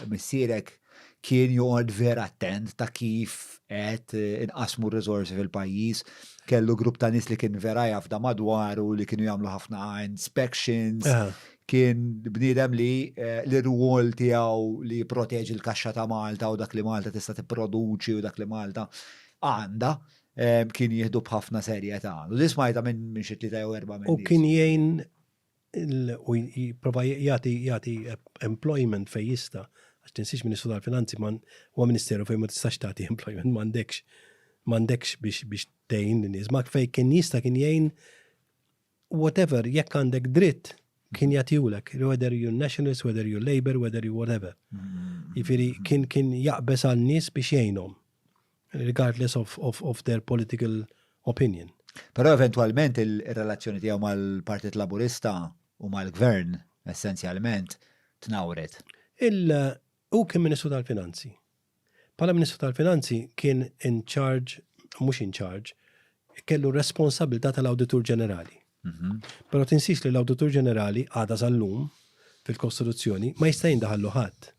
Missierek kien joqgħod vera attent ta' kif qed inqasmu r-riżorsi fil-pajjiż. Kellu grupp ta' nies li kien vera jafda madwaru li kienu jagħmlu ħafna inspections. Kien bniedem li eh, l-irwol tiegħu li jipproteġi l-kaxxa ta' Malta u dak li Malta tista' tipproduċi u dak li Malta għandha eh, kien jieħdu b'ħafna serjetà. U li smajta minn xi tlieta jew erba' minn. U kien jgħin u jipprova jagħti jagħti employment fejn jista' għax tinsiex Ministru tal-Finanzi man huwa Ministeru fejn ma tistax tagħti employment m'għandekx m'għandekx biex biex tgħin nies ma fejn kien jista' kien jgħin whatever jekk għandek dritt kien jagħtihulek whether you nationalist, whether you labor, whether you whatever. Jifieri kien kien jaqbeż għal nies biex jgħinhom. Regardless of, of, of their political opinion. Però eventwalment il-relazzjoni tiegħu mal-Partit Laburista u mal-Gvern essenzjalment tnawret. Il u kien Ministru tal-Finanzi. Pala Ministru tal-Finanzi kien in charge, mhux in charge, kellu responsabilità tal-Awditur Ġenerali. Mhm. Però tinsix li l-Awditur Ġenerali għada sal-lum fil-Kostituzzjoni ma jista' jindaħallu ħadd.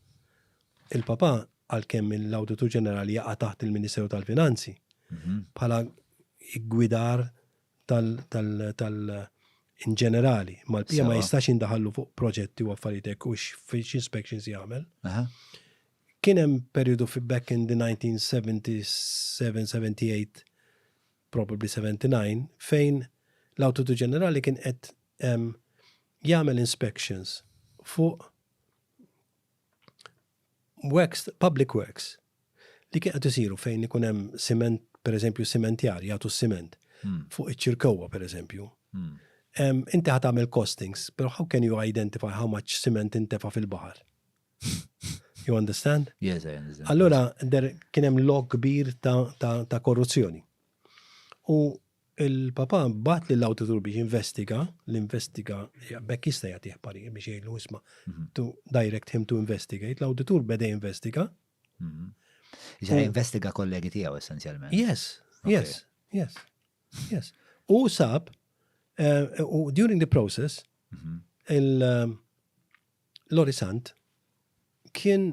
Il-Papa, għalkemm l-Awditur Ġenerali jaqa' taħt il-Ministeru tal-Finanzi, bħala ggwidar tal-inġenerali, mal-PA ma jistax jindaħallu fuq proġetti u affarijiet hekk u x'inspections jagħmel. Kien hemm perjodu fi back in the 1977, 78, probably 79, fejn l-Awditur Ġenerali kien qed jagħmel inspections fuq works, public works, li kien qed isiru fejn ikun hemm siment, per eżempju, simentjar jagħtu s-siment hmm. fuq iċ-ċirkowwa, per eżempju. Hmm. Inti ħat għamil costings, pero how can you identify how much cement intefa fil-bahar? You understand? Yes, I understand. Allora, der kienem log kbir ta', ta, ta korruzzjoni. U Il-Papa bagħat lil awditur biex jinvestiga, l-investiga bekk jista' jagħtih parir biex jgħidlu isma' mhm. to direct him to investigate, l-awditur beda jinvestiga. Mhm. Ġara investiga kollegi tiegħu essenzjalment. Yes, yes, yes, yes. U sab, eh, u during the process, mhm. eh, l-Orisant kien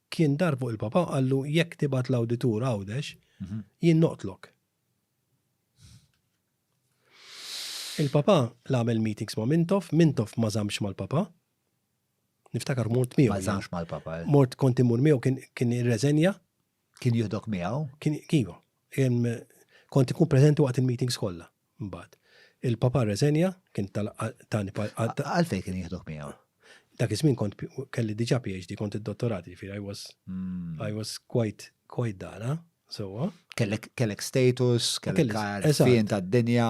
Kien dar fuq il-Papa u qallu jekk tibgħat l-awditur Għawdex, jien noqtlok. Il-Papa l-għamel meetings ma' Mintoff, Mintoff ma żamx mal-Papa. Niftakar mort miegħu. Ma żamx mal-Papa. Eh. Mort kont imur miegħu kien irreżenja. Kien jihdok miegħu? Kien kiva. Kont ikun preżenti waqt il-meetings kollha. Mbagħad. Il-Papa rreżenja, kien tani pal-. Għalfejn kien jieħduh miegħu? Dak iż-żmien kont kelli diġà PhD, kont id-dottorat, jiġifieri I was hmm. I was quite quite dara, sewwa. Kellek status, kellek fin tad-dinja.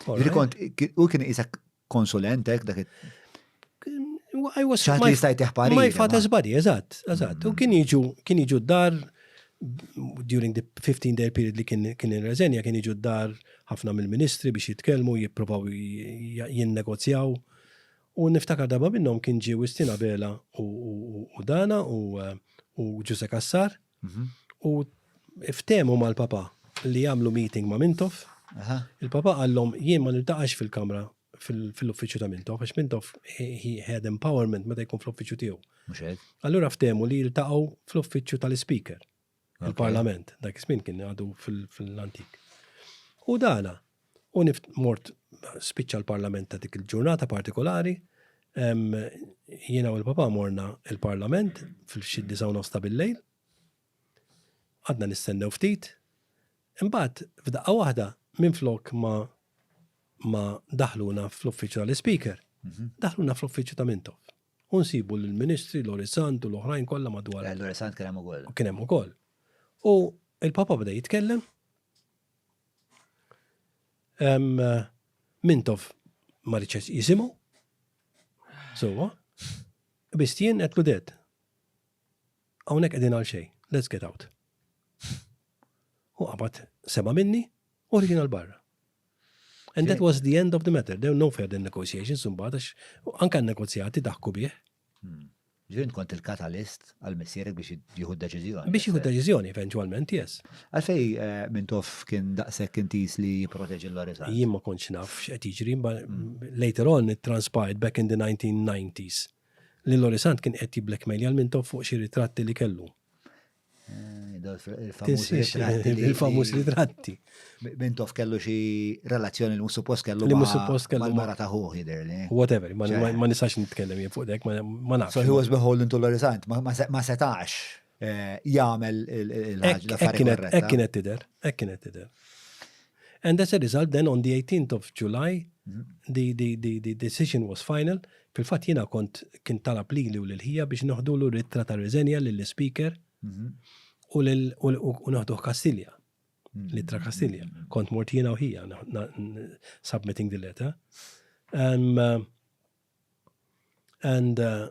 U kien isek konsulent hekk dak I was ċaħt li jistajt iħpari. My father's body, eżatt, eżatt. U kien jiġu, kien jiġu dar during the 15 day period li kien kien reżenja kien jiġu dar ħafna mill-ministri biex jitkellmu, jipprovaw jinnegozjaw. U niftakar darba minnhom kien ġie Wistina Bela u Dana u Ġuse Kassar U ftehmu mal-Papa li jagħmlu meeting ma' Mintoff. Il-Papa qallhom jien ma niltaqax fil-kamra fil-uffiċċju ta' Mintoff, għax Mintoff he had empowerment meta jkun fl-uffiċċju tiegħu. Allura ftehmu li jiltaqgħu fl-uffiċċju tal-Speaker, il-Parlament, dak iż-żmien kien għadu fil-antik. U dana, U nift mort spiċċa l-parlament ta' dik il-ġurnata partikolari, jiena u l-papa morna il-parlament fil-xi disaw nosta bil-lejl, għadna nistennew ftit, imbagħad f'daqqa waħda minn flok ma ma daħluna fl-uffiċċju tal-ispeaker, mhm. daħluna fl-uffiċċju ta' Mintoff. U nsibu l-ministri, l-Orisant u l-oħrajn kollha madwar. Eh, L-Orisant kien hemm ukoll. Kien hemm ukoll. U il-Papa bda jitkellem Mintof ma riċes jisimu. Sowa. Bistien qed ludet. Hawnhekk qegħdin għal xejn. Let's get out. U qabad sema minni u ħriġin għal barra. And that was the end of the matter. There were no further negotiations imbagħad għax anke negozjati daħku bih. Ġifieri int kont il-katalist għal missierek biex jieħu deċiżjoni. Biex jieħu deċiżjoni eventualment, yes. Għalfej eh, Mintoff kien daqshekk intis li jipproteġi l-Lorizza. Jien ma kontx naf x'qed jiġri, ma mm. later on it transpired back in the 1990s li Lorisant kien qed jiblackmail għal Mintoff fuq xi ritratti li kellu. Il-famus ritratti. Mintof kellu xi relazzjoni li mhux suppost kellu li mhux suppost kellu mara ta' ħuħ jidher li. Whatever, ma nistax nitkellem jien fuq dek, ma nafx. So he was beholden to l-orizzant, ma setax eh, jagħmel il-ħaġa. Hekk kienet tidher, hekk kienet tidher. And as a result then on the 18th of July the the the the decision was final, fil-fatt jiena kont kien talab lili u lil ħija biex neħdulu l-ittra ta' riżenja lill-Ispeaker u lil u neħduh Kastilja. L-ittra Kastilja. Kont mort jiena u ħija submitting the letter. Um, and uh,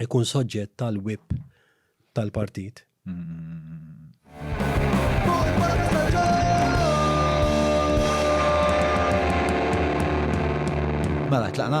ikun soġġett tal-whip tal-partit. Mela, tlaqna.